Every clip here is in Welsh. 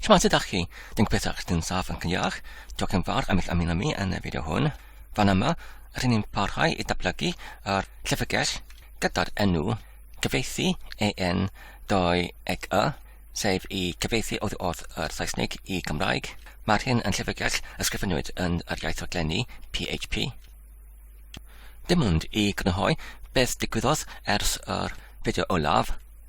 Siwmai ydych chi? Dwi'n gobeithio eich dyn saf yn cyniach. Diolch yn fawr am eich ymuno mi yn y fideo hwn. Fan yma, rydyn ni'n parhau i datblygu yr llyfrgell gyda'r enw cyfeithi EN 2 eg y, sef i cyfeithi oddi wrth yr Saesnig i Gymraeg. Mae'r hyn yn llyfrgell ysgrifenwyd yn yr iaith rhaglenni PHP. Dim ond i grynhoi beth digwyddodd ers yr fideo olaf,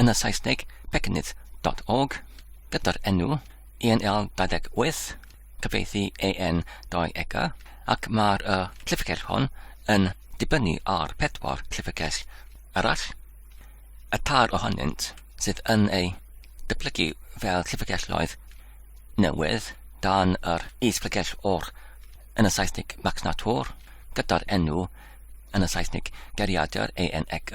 yn y Saesneg pecnydd.org gyda'r enw ENL 28, cyfeithi EN 2 ega, ac mae'r uh, llyfrgell hon yn dibynnu ar pedwar llyfrgell arall, y tair ohonynt sydd yn ei dyblygu fel llyfrgelloedd newydd dan yr is-llyfrgell o'r yn y Saesneg Max Natur gyda'r enw yn y Saesneg Geriadur ENEG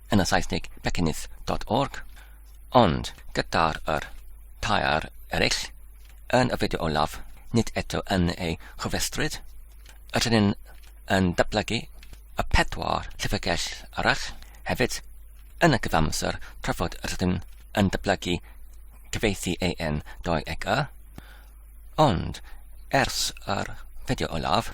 yn y Saesneg Bekennydd dot org, ond gyda'r yr tair eraill yn y fideo olaf, nid eto yn ei chofrestryd, ydyn ni'n yn datblygu y pedwar llyfrgell arall hefyd yn y cyfamser tra fod yr ydyn yn datblygu cyfeithi AN 2 ag Y, ond ers yr fideo olaf,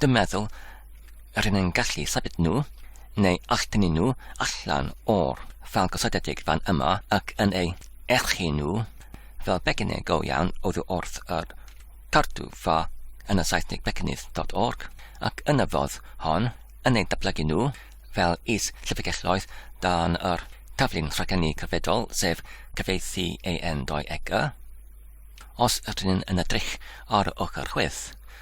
Dwi'n meddwl rŷn yn gallu symud nhw, neu eich tynnu nhw allan o'r ffâl gosodedig fan yma ac yn eu erchu nhw fel becynnau go iawn oddi wrth yr Cadw Ffa yn y Saesneg Becynydd.org ac yn y fodd hon yn eu datblygu nhw fel is llyfrgelloedd dan yr taflu'n rhagennu cyfredol sef cyfeithi AN 2 eg y. Os ydyn yn edrych ar ochr chwith,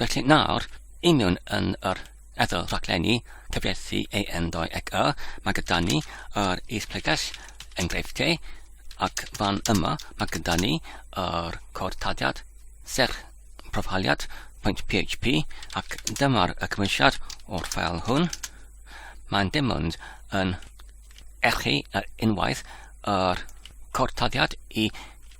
Felly nawr, i mewn yn yr ethol rhaglenni cyfieithu AN ddoe ac Y, mae gyda ni yr is-pregell enghreifftiau, ac fan yma mae gyda ni yr cod taliad, serch proffaliad, pwynt PHP, ac dyma'r y cymwysiad o'r ffael hwn. Mae'n dim ond yn erchu yr unwaith yr cod taliad i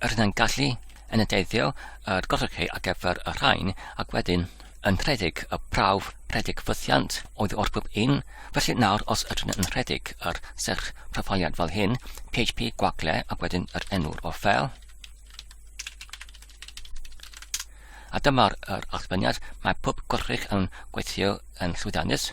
Yr hyn yn gallu yn y deithio yr golygu ar gyfer y rhain ac wedyn yn rhedeg y prawf rhedeg ffythiant oedd o'r gwb un, felly nawr os ydyn yn rhedeg yr serch proffaliad fel hyn, PHP gwagle ac wedyn yr enw'r o fel. A dyma'r yr allfyniad, mae pob gorrych yn gweithio yn llwyddiannus.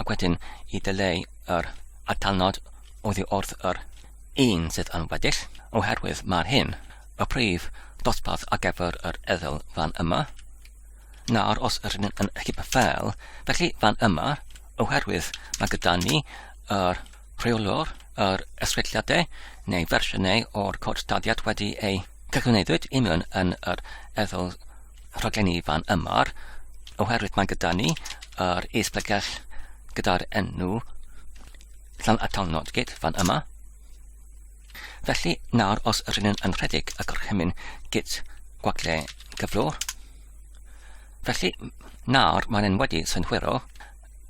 Ac wedyn i ddileu yr atalnod oddi wrth yr un sydd yn weddill, oherwydd mae'r hyn y prif ddosbarth ar gyfer yr eddyl fan yma. Nawr, os rydyn ni'n yn hybu fel, felly fan yma, oherwydd mae gyda ni yr rheolwr, yr eswelliadau neu fersiynau o'r cod dyddiad wedi ei cyflwyniddwyd i mewn yn yr eddyl rhaglen Ifan ymor, oherwydd mae gyda ni yr esblygiad gyda'r enw Llan Atal Nodgyd fan yma. Felly nawr os rydyn yn rhedeg y gorchymyn git gwagle gyflo, felly nawr mae'n yn wedi synhwyro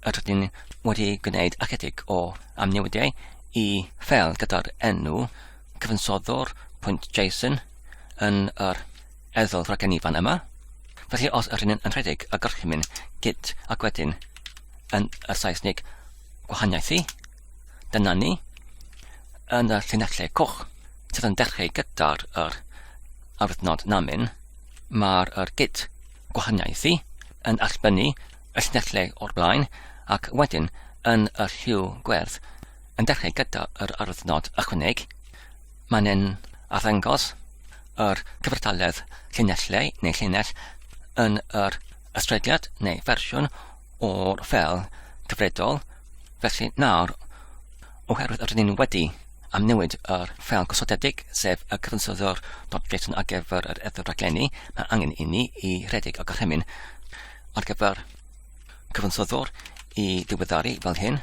a rydyn wedi gwneud ychydig o amnewidiau i fel gyda'r enw cyfansoddwr pwynt JSON yn yr Ethol Fragen Ifan yma. Felly os yr hyn yn rhedeg y gorchymyn git ac wedyn yn y Saesnig gwahaniaethu, dyna ni, yn y llinellau coch sydd yn dechrau gyda'r yr arwyddnod namin, mae'r yr git gwahaniaethu yn allbynnu y llinellau o'r blaen ac wedyn yn y lliw gwerth yn dechrau gyda yr arwyddnod ychwaneg Mae'n yn arddangos yr cyfartaledd llinellau neu llinell yn yr ystrediad neu fersiwn o'r fel cyfredol, felly nawr, oherwydd yr ydyn wedi am newid yr fel gosodedig, sef y cyfansoddwr dot JSON ar gyfer yr edrych raglenni, mae angen i ni i redeg y gorchymyn ar gyfer cyfansoddwr i ddiweddaru fel hyn.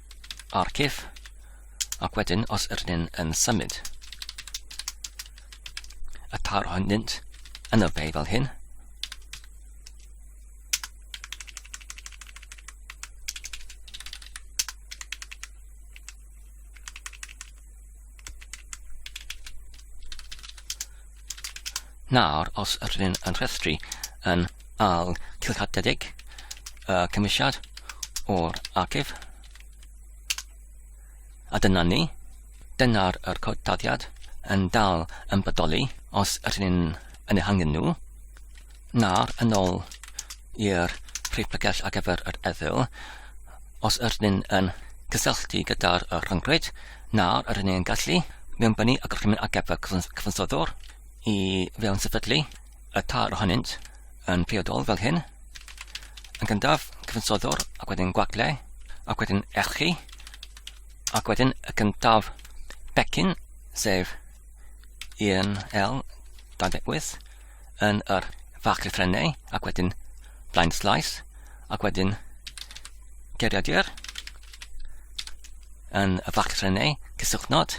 ar cif, ac wedyn os ydyn ni'n yn symud y tar honynt yn y fe fel hyn, Nawr, os rydyn yn rhestru yn al cilchadedig y cymwysiad o'r archif, a dyna ni, dyna'r yr cod taddiad yn dal yn bodoli os rydyn yn ehangu nhw. Na, yn ôl i'r Rhypagell ar gyfer yr Eddyl, os yr ni'n yn cysylltu gyda'r uh, rhyngrwyd, na, yr ni'n gallu mewnbynnu y gorchymyn ar gyfer cyfansoddwr i fewn sefydlu y tair ohonynt yn priodol fel hyn, yn gyntaf cyfansoddwr ac wedyn gwagle ac wedyn erchi ac wedyn y gyntaf becyn sef 1L 28 yn yr fach llythrennau ac wedyn blind slice ac wedyn geriadur yn y fach llythrennau cysylltnod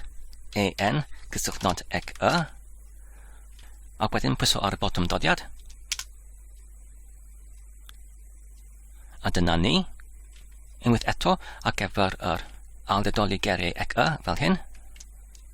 EN cysylltnod ec y ac wedyn pwyso ar y botwm dodiad a dyna ni unwaith eto ac efo'r yr ail ddedoli geriau ec y fel hyn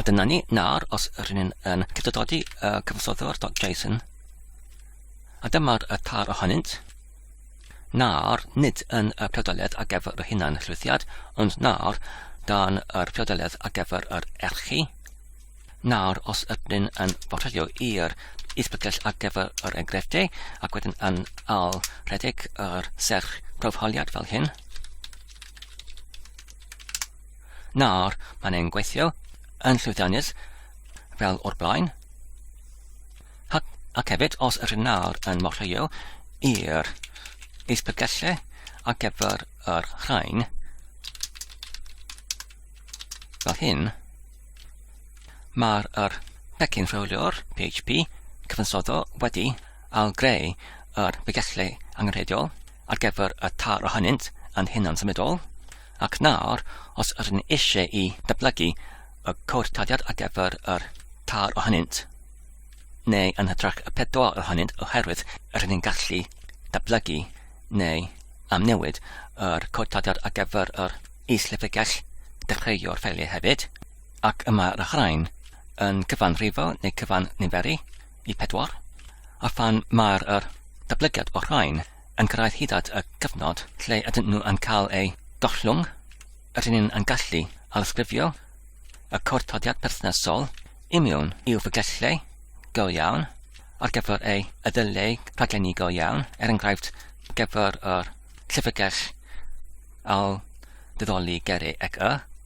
A dyna ni, nawr os rydyn ni'n yn cydododi y cyfansoddiwr.json, a dyma'r y tar ohonynt, nawr nid yn y priodoledd ar gyfer y hunan llwythiad, ond nawr dan yr priodoledd ar gyfer yr erchi. Nawr os ydyn ni'n yn bortredio i'r isbygell ar gyfer yr enghreifftiau ac wedyn yn al rhedeg yr serch profholiad fel hyn, Nawr, mae'n ein gweithio yn llwyddiannus fel o'r blaen. Ac, ac hefyd, os ydyn nawr yn morhwyo i'r isbygelle ar gyfer yr rhain, fel hyn, mae'r er pecyn rhywliwr PHP cyfansoddol wedi a greu yr bregethwr angenrheidiol ar gyfer y tâl ohonynt yn hunan-symudol, ac nawr, os ydyn ni eisiau i ddatblygu y cwrtadiad ar gyfer yr tâl ohonynt, neu yn hytrach y pedwar ohonynt oherwydd rydyn ni'n gallu datblygu neu amnewid yr cwrtadiad ar gyfer yr is-llyfrgell dechreuwr ffeiliau hefyd, ac y mae'r rhain yn cyfan rhifo neu cyfan niferu, Y pedwar, a phan mae'r yr datblygiad o'r rhain yn cyrraedd hyd at y cyfnod lle ydyn nhw yn cael eu gollwng, rydyn ni'n yn gallu ailddisgrifio y cwrtodiad perthnasol i mewn i'w ffigellau go iawn ar gyfer ei ddyleu rhaglenni go iawn, er enghraifft gyfer yr llyfrgell ail ddyddoli Geri ec y.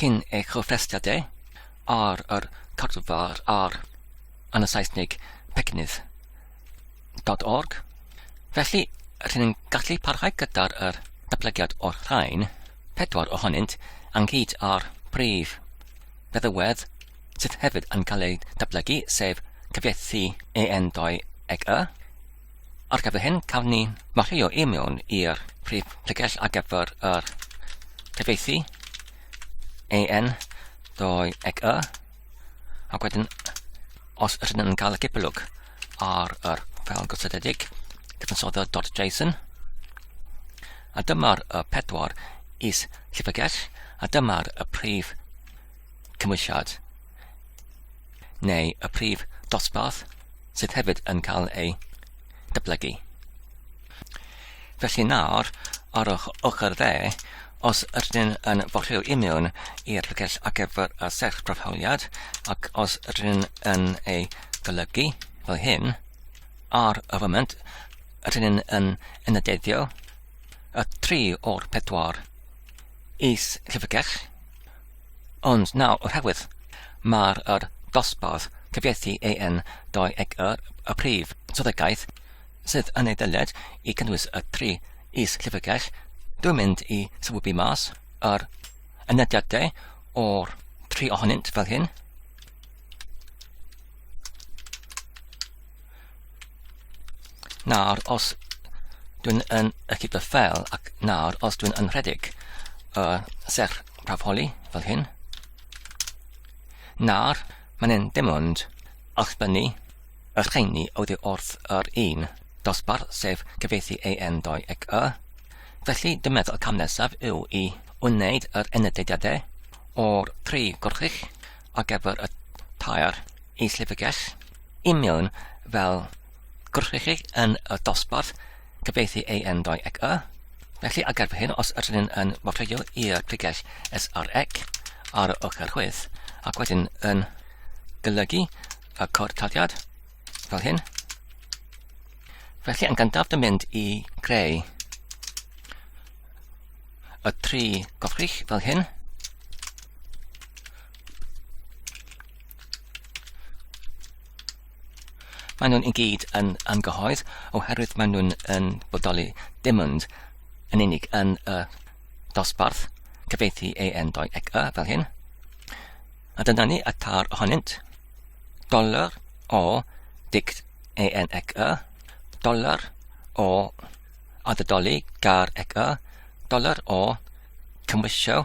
Cyn ei chyfweld ef ar yr Cordfa'r ar yn y Saesneg Pecynydd dot org. Felly, rydyn ni'n gallu parhau gyda'r er datblygiad o'r rhain, pedwar ohonynt, anghyd ar brif feddywedd sydd hefyd yn cael eu datblygu, sef cyfieithu EN2 ag Y, Ar gyfer hyn, cawn ni wario i mewn i'r prif tegell ar gyfer yr cyfeithi en doi ec y, ac wedyn os ydyn yn cael y cipolwg ar yr fel gysylltiedig cyfansodda.json, a dyma'r y pedwar is llyfrgell, a dyma'r y prif cymwysiad. neu y prif dosbarth sydd hefyd yn cael ei dyblygu. Felly nawr, ar o'ch ochr dde, os ydyn yn fodryw imiwn i'r llyfrgell ar gyfer y serch proffoliad, ac os ydyn yn ei golygu fel hyn, ar y foment, ydyn yn enydeddio y tri o'r pedwar is llyfrgell, Ond nawr o'r rhagwedd, mae'r yr dosbarth cyfieithu AN 21 y prif swyddogaeth sydd yn ei ddylied i gynnwys y tri is-llyfrgell, dwi'n mynd i sylwybu mas yr ynediadau o'r tri ohonynt fel hyn. Nawr, os dwi'n yn y cyd fel ac nawr, os dwi'n yn rhedeg y uh, serch prafoli fel hyn, nawr, mae'n yn dim ond allbynnu y rheini oddi wrth yr un dosbarth sef cyfeithi AN 2 ac Y. Felly, dwi'n meddwl y cam nesaf yw i wneud yr enydediadau o'r tri gorchig ar gyfer y tair is-lefygell Union fel gwrthrych chi yn y dosbarth cyfeithi AN doi ec y. Felly ar gyfer hyn, os ydyn ni'n yn wrthreio i'r pregell SREC ar y ochr chwith, ac wedyn yn golygu y cod taliad fel hyn, felly yn gyntaf dy mynd i greu y tri gwrthrych fel hyn, Mae nhw'n i gyd yn anghyhoedd oherwydd mae nhw'n yn bodoli dim ond yn unig yn y dosbarth cyfeithi ei endoedd ac y fel hyn. A dyna ni y tar ohonynt. Dollar o dict en ac y, dollar o addydoli gar ac y, dollar o cymwysio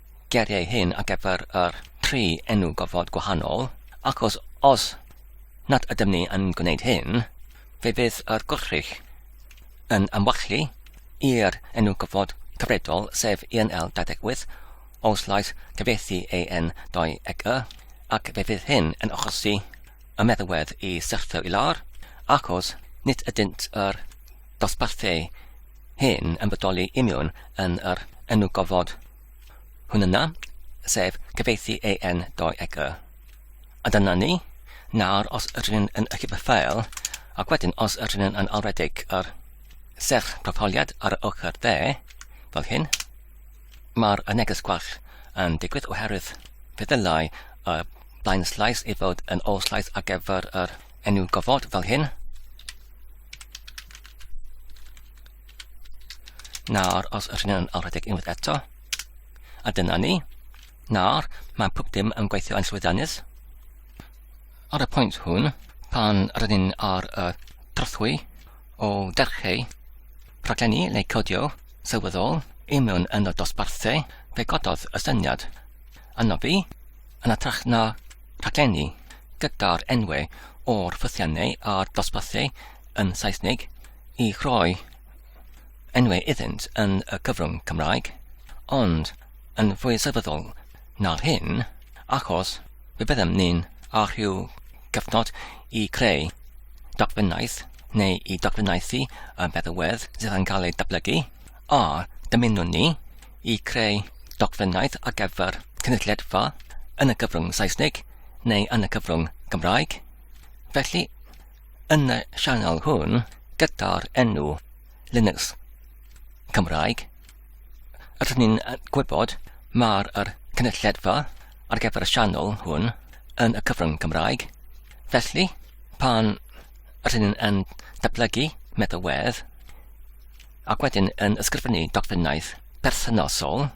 geiriau hyn ar gyfer yr tri enw gofod gwahanol, achos os nad ydym ni yn gwneud hyn, fe fydd yr gwrthrych yn ymwachlu i'r enw gofod cyfredol, sef ENL 28, os lais cyfieithu AN 2 eg y, ac fe fydd hyn yn achosi y meddalwedd i syrthio i lawr, achos nid ydynt yr dosbarthu hyn yn bodoli imiwn yn yr enw gofod hwn yna, sef cyfeithi AN 2 eg y. A dyna ni, nawr os rydyn yn y cyfyffael, ac wedyn os rydyn yn alwedig yr serch proffoliad ar y ochr dde, fel hyn, Mae'r neges gwell yn digwydd oherwydd fe ddylai y blaenslais ei fod yn ôl-slais ar gyfer yr enw gofod fel hyn. Nawr, os ydyn nhw'n alredeg unwaith eto, a dyna ni. Nawr, mae pob dim yn gweithio yn llwyddiannus. Ar y pwynt hwn, pan rydyn ar y trothwy o dercheu, Rhaglenni neu codio sylweddol i mewn yn y dosbarthau fe gododd y syniad anobi yn atrach na rhaglenni gyda'r enwau o'r ffythiannau a'r dosbarthau yn Saesneg i rhoi enwau iddynt yn y cyfrwng Cymraeg, ond yn fwy sylweddol Nawr hyn, achos fe byddem ni'n â rhyw gyfnod i creu dogfennaeth neu i dogfennaethu y feddywedd sydd yn cael ei datblygu, a dymunwn ni i creu dogfennaeth ar gyfer cynulleidfa yn y cyfrwng Saesneg neu yn y cyfrwng Gymraeg. Felly, yn y sianel hwn, gyda'r enw Linux Cymraeg, Rydyn ni'n gwybod mae'r er cynulledfa ar gyfer y sianel hwn yn y cyfrwng Cymraeg. Felly, pan rydyn ni'n yn datblygu meddalwedd ac wedyn yn ysgrifennu dogfennaeth perthynosol,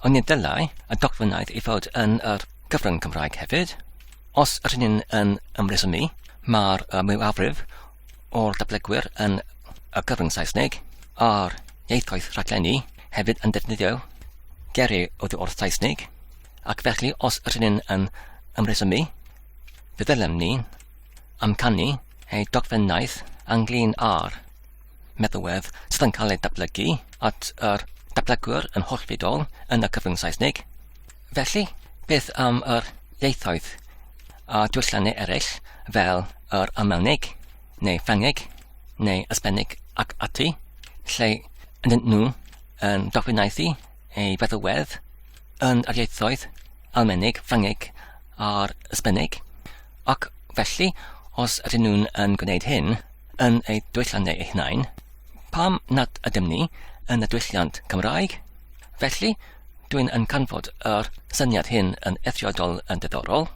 ond ni ddylai y dogfennaeth i fod yn yr cyfrwng Cymraeg hefyd. Os rydyn ni'n yn ymresymu, mae'r mwyafrif o'r datblygwyr yn y cyfrwng Saesneg a'r ieithoedd rhaglenni hefyd yn defnyddio geri oddi wrth Saesneg, ac felly os ydyn ni'n yn ymresymu, fe ddylem ni amcanu ei dogfennaeth anglyn ar meddwedd sydd yn cael ei datblygu at yr datblygwr yn hollfidol yn y cyfrwng Saesneg, Felly, beth am yr ieithoedd a dwyslenni eraill fel yr Almaeneg, neu Ffrangeg, neu Ysbennig ac ati, lle yndyn nhw yn dogfennaethu ei feddwedd yn yr ieithoedd Almaeneg, Ffrangeg a'r Ysbennig, ac felly, os ydyn nhw'n yn gwneud hyn yn eu dwylliannau eu hunain, pam nad ydym ni yn y dwylliant Cymraeg? Felly, Dwi'n yn canfod yr syniad hyn yn eithriadol yn diddorol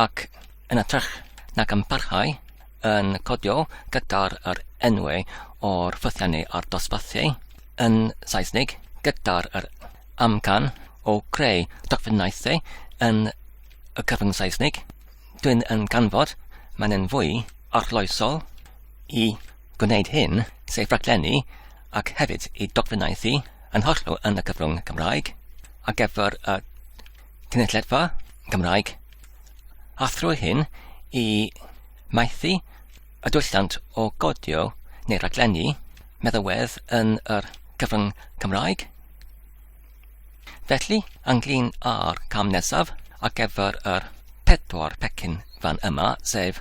ac yn atrach nag yn parhau yn codio gyda'r yr enwau o'r ffythiannau a'r dosbarthiau yn Saesnig gyda'r yr amcan o creu dogfennaethau yn y cyfrwng Saesnig. Dwi'n yn canfod mae'n yn fwy arloesol i gwneud hyn, sef rhaglennu ac hefyd i dogfennaethu yn hollol yn y cyfrwng Cymraeg ar gyfer y cynulleidfa Cymraeg a thrwy hyn i maethu y dwyllant o godio neu raglennu meddywedd yn yr cyfrwng Cymraeg. Felly, ynglyn â'r cam nesaf ar gyfer yr pedwar pecyn fan yma, sef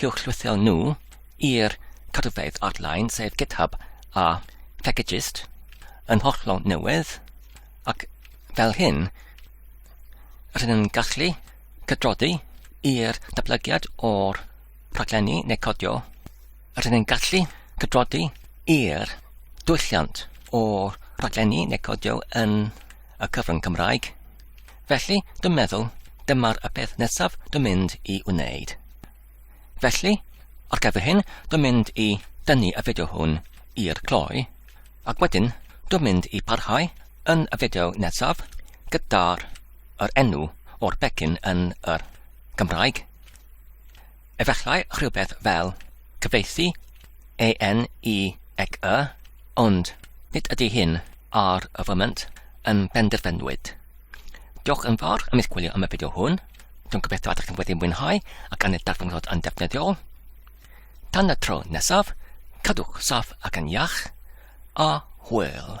huwchlythyr nhw i'r cadwfeydd ar-lein, sef GitHub a Packageist, yn hollol newydd, ac fel hyn, rydyn yn gallu cydroddi i'r datblygiad o'r rhaglenni neu codio, rydyn yn gallu cydroddi i'r dwylliant o'r rhaglenni neu codio yn y cyfrwng Cymraeg, Felly, dwi'n meddwl, dyma'r y peth nesaf dwi'n mynd i wneud. Felly, ar gyfer hyn, dwi'n mynd i dynnu y fideo hwn i'r cloi, ac wedyn dwi'n mynd i parhau yn y fideo nesaf gyda'r yr enw o'r becyn yn yr Gymraeg. Efallai rhywbeth fel, cyfieithu, AN i ec y, ond nid ydy hyn ar y foment yn benderfynwyd. Diolch yn fawr am eich gwylio am y fideo hwn. Dwi'n gobeithio ydych chi'n wedi mwynhau ac aned darfynglod yn defnyddiol. Tan y tro nesaf, cadwch saff ac yn iach, a hwyl.